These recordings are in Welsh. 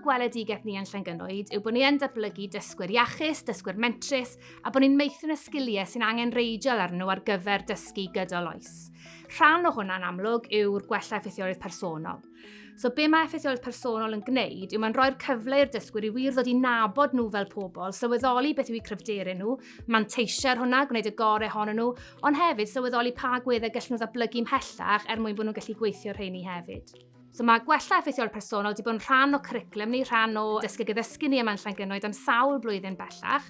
gweledigaeth ni yn Llangynnoed yw bod ni yn datblygu dysgwyr iachus, dysgwyr mentrus, a bod ni'n meithrin y sgiliau sy'n angen reidiol ar nhw ar gyfer dysgu gydol oes. Rhan o hwnna'n amlwg yw'r gwella effeithiolrwydd personol. So be mae effeithioledd personol yn gwneud yw mae'n rhoi'r cyfle i'r dysgwyr i wir ddod i nabod nhw fel pobl, sylweddoli beth yw eu cryfderau nhw, manteisio ar hwnna, gwneud y gorau honno nhw, ond hefyd sylweddoli pa gweddau gallen nhw ddatblygu mhellach er mwyn bod nhw'n gallu gweithio rheini hefyd. So mae gwella effeithiol personol wedi bod yn rhan o curriculum ni, rhan o dysgu gyddysgu ni yma'n Llangynnoed am sawl blwyddyn bellach.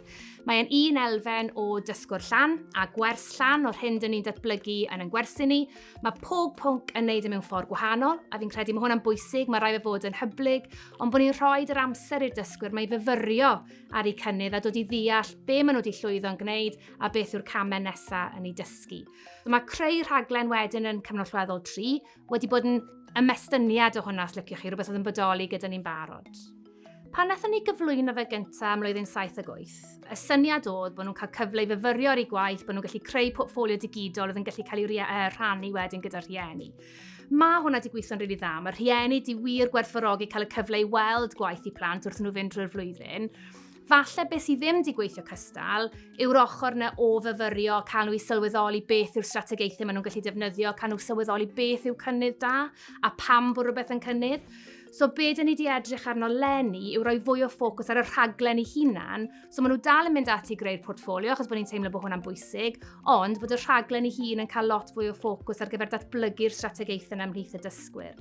Mae'n un elfen o dysgwr llan a gwers llan o'r hyn dyn ni'n datblygu yn yn gwersi ni, Mae pob pwnc yn neud e mewn ffordd gwahanol, a fi'n credu mae hwnna'n bwysig, mae rai fe fod yn hyblyg, ond bod ni'n rhoi yr amser i'r dysgwyr mae fyfyrio ar eu cynnydd a dod i ddeall be maen nhw wedi llwyddo'n gwneud a beth yw'r camau nesaf yn ei dysgu. So mae creu rhaglen wedyn yn cyfnod llweddol 3 wedi bod yn ymestyniad o hwnna, os liciwch chi, rhywbeth oedd yn bodoli gyda ni'n barod. Pan nathon ni gyflwyno fe gyntaf am mlwyddyn 78, y syniad oedd bod nhw'n cael cyfle i fyfyrio ar ei gwaith, bod nhw'n gallu creu portfolio digidol oedd yn gallu cael ei uh, rhannu wedyn gyda rhieni. Mae hwnna wedi gweithio'n rili really dda. Mae rhieni di wir gwerthfawrogi cael y cyfle i weld gwaith i plant wrth nhw fynd drwy'r flwyddyn. Falle beth sydd ddim wedi gweithio cystal yw'r ochr na o fyfyrio, cael nhw i sylweddoli beth yw'r strategaethau maen nhw'n gallu defnyddio, cael nhw sylweddoli beth yw cynnydd da a pam bod rhywbeth yn cynnydd. So be dyn ni wedi edrych arno lenni yw rhoi fwy o ffocws ar y rhaglen ei hunan. So maen nhw dal yn mynd ati greu'r portfolio achos bod ni'n teimlo bod hwnna'n bwysig, ond bod y rhaglen ei hun yn cael lot fwy o ffocws ar gyfer datblygu'r strategaethau yna ymhlith y dysgwyr.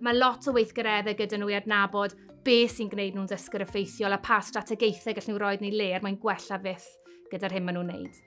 Mae lot o weithgareddau gyda nhw i adnabod be sy'n gwneud nhw'n ddysgwyr effeithiol a pa strategaethau gallen nhw roi yn ei le er mwyn gwella fyth gyda'r hyn maen nhw'n wneud.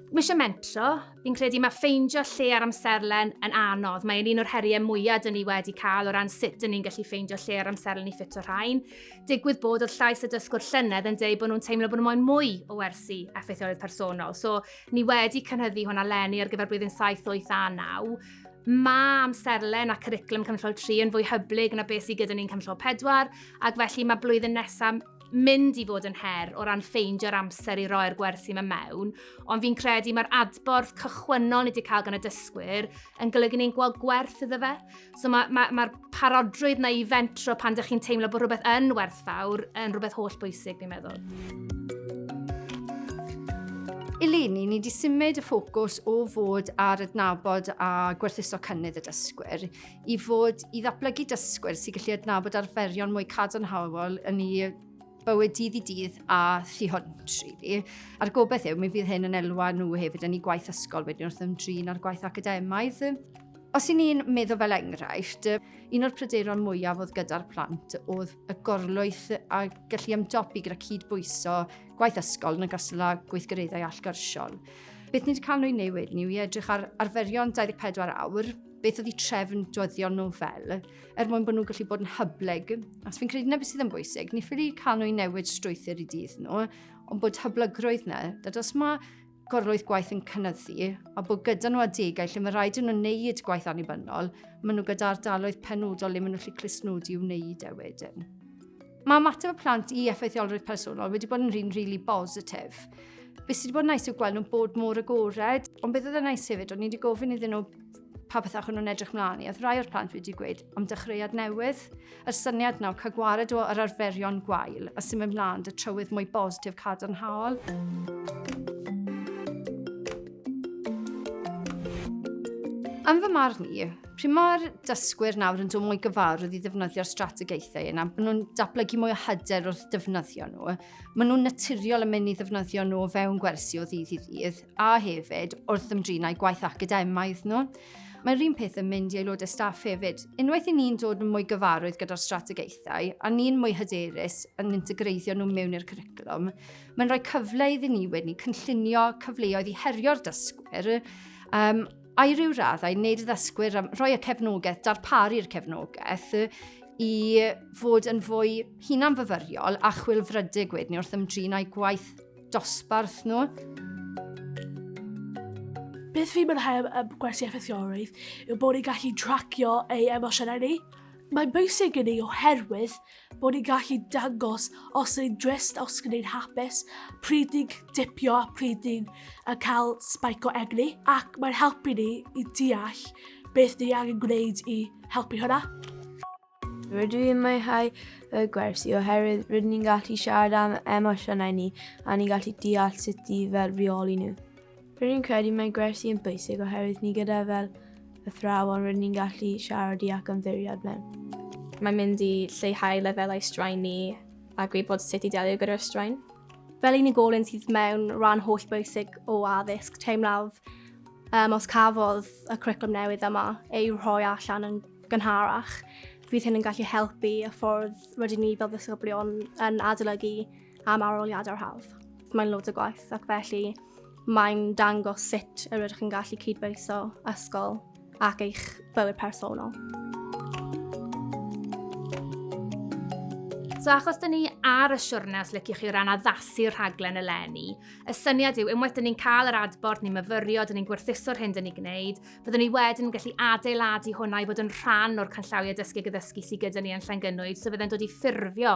Mae eisiau mentro, fi'n credu mae ffeindio lle ar amserlen yn anodd. Mae'n un o'r heriau mwyaf dyn ni wedi cael o ran sut dyn ni'n gallu ffeindio lle ar amserlen i ffit o rhain. Digwydd bod oedd llais y dysgwr llynedd yn dweud bod nhw'n teimlo bod nhw'n moyn mwy o wersi effeithioledd personol. So, ni wedi cynhyddu hwnna lenni ar gyfer blwyddyn 7, 8 a 9. Mae amserlen a cwriclwm cynllol 3 yn fwy hyblyg na beth sydd gyda ni'n cynllol 4, ac felly mae blwyddyn nesaf mynd i fod yn her o ran ffeindio'r amser i roi'r gwersi yma mewn, ond fi'n credu mae'r adborth cychwynnol ni wedi cael gan y dysgwyr yn golygu ni'n gweld gwerth iddo fe. So mae'r ma, ma, ma parodrwydd na i fentro pan ydych chi'n teimlo bod rhywbeth yn werthfawr yn rhywbeth holl bwysig, fi'n meddwl. Eleni, ni wedi symud y ffocws o fod ar adnabod a gwerthuso cynnydd y dysgwyr i fod i ddatblygu dysgwyr sy'n gallu adnabod arferion mwy cadarnhaol yn ei bywyd dydd i dydd a thu hwnt, really. A'r gobeith yw, mi fydd hyn yn elwa nhw hefyd yn ei gwaith ysgol wedyn wrth ymdrin â'r gwaith academaidd. Os i ni'n meddwl fel enghraifft, un o'r pryderon mwyaf oedd gyda'r plant oedd y gorlwyth a gallu ymdopi gyda cyd-bwyso gwaith ysgol yn y gystal â gweithgareddau allgyrsiol. Beth ni wedi cael nhw'n newid ni yw i edrych ar arferion 24 awr beth oedd i trefn dyddio nhw fel, er mwyn bod nhw'n gallu bod yn hyblyg. Os fi'n credu na beth sydd yn bwysig, ni ffili cael nhw i newid strwythyr i dydd nhw, ond bod hyblygrwydd na, dad os mae gorlwyth gwaith yn cynnyddu, a bod gyda nhw adegau lle mae rhaid nhw'n wneud gwaith annibynnol, maen nhw gyda ardaloedd penodol le maen nhw'n gallu clusnodi i wneud e wedyn. Mae ymateb y plant i effeithiolrwydd personol wedi bod yn rhywun rili really bositif. Be sydd wedi bod yn nice yw gweld nhw'n bod mor agored, ond beth oedd yn nice hefyd, o'n i wedi gofyn iddyn nhw pa bethau chwn nhw'n edrych mlaen i, oedd rai o'r plant wedi gweud am dechreuad newydd. Yr syniad nawr, cael gwared o yr arferion gwael a sy'n mynd mlaen dy trywydd mwy bositif cadarnhaol. Am fy marn i, Pryd mae'r dysgwyr nawr yn dod mwy gyfarwydd i ddefnyddio'r strategaethau yna, maen nhw'n datblygu mwy o hyder wrth ddefnyddio nhw. Maen nhw'n naturiol yn mynd i ddefnyddio nhw o fewn gwersi o ddydd i ddydd, a hefyd wrth ymdrinau gwaith academaidd nhw. Mae'r un peth yn mynd i aelodau staff hefyd. Unwaith i ni'n dod yn mwy gyfarwydd gyda'r strategaethau a ni'n mwy hyderus yn integreiddio nhw mewn i'r curriculum, mae'n rhoi cyfle iddyn ni wedyn cynllunio cyfleoedd i herio'r dysgwyr um, I ryw raddau, wneud y ddysgwyr, rhoi y cefnogaeth, darparu'r cefnogaeth i fod yn fwy hunanfyfyriol a chwilfrydig wedyn ni wrth ymdrin â'i gwaith dosbarth nhw. Beth fi'n mwynhau am gwersi effeithiolrwydd yw bod ni'n gallu tracio ei emosiynau ni. Mae'n bwysig i ni oherwydd bod ni'n gallu dangos os ni'n drist, os ni'n hapus, pryd ni'n dipio a pryd ni'n cael spike o egni, ac mae'n helpu ni i deall beth ni angen gwneud i helpu hwnna. Rydw i'n mwynhau y gwersi oherwydd rydyn ni'n gallu siarad am emosiynau ni a ni'n gallu deall sut i fel reoli nhw. Rydyn ni'n credu mae gwersi yn bwysig oherwydd ni gyda fel athrawon rydyn ni'n gallu siarad i ac ymddiried mewn. Mae'n mynd i lleihau lefelau straen ni a gwybod sut i delio gyda'r straen. Fel unigolyn sydd mewn rhan holl bwysig o addysg, teimlaf um, os cafodd y cwricwlwm newydd yma ei rhoi allan yn gynharach, fydd hyn yn gallu helpu y ffordd rydyn ni fel ddisgyblion yn adolygu am aroliadau'r hawdd. Mae'n loads o gwaith ac felly mae'n dangos sut yr ydych chi'n gallu cydbeiso ysgol ac eich bywyd personol. So achos dyn ni ar y siwrne os lyciwch chi o ran addasu rhaglen eleni, y syniad yw unwaith dyn ni'n cael yr adborth, ni'n myfyrio, dyn ni'n gwerthuso'r hyn dyn ni'n gwneud, byddwn ni wedyn yn gallu adeiladu hwnna i fod yn rhan o'r canllawiau dysgu gyddysgu sydd gyda ni yn Llangynwyd, so fydde'n dod i ffurfio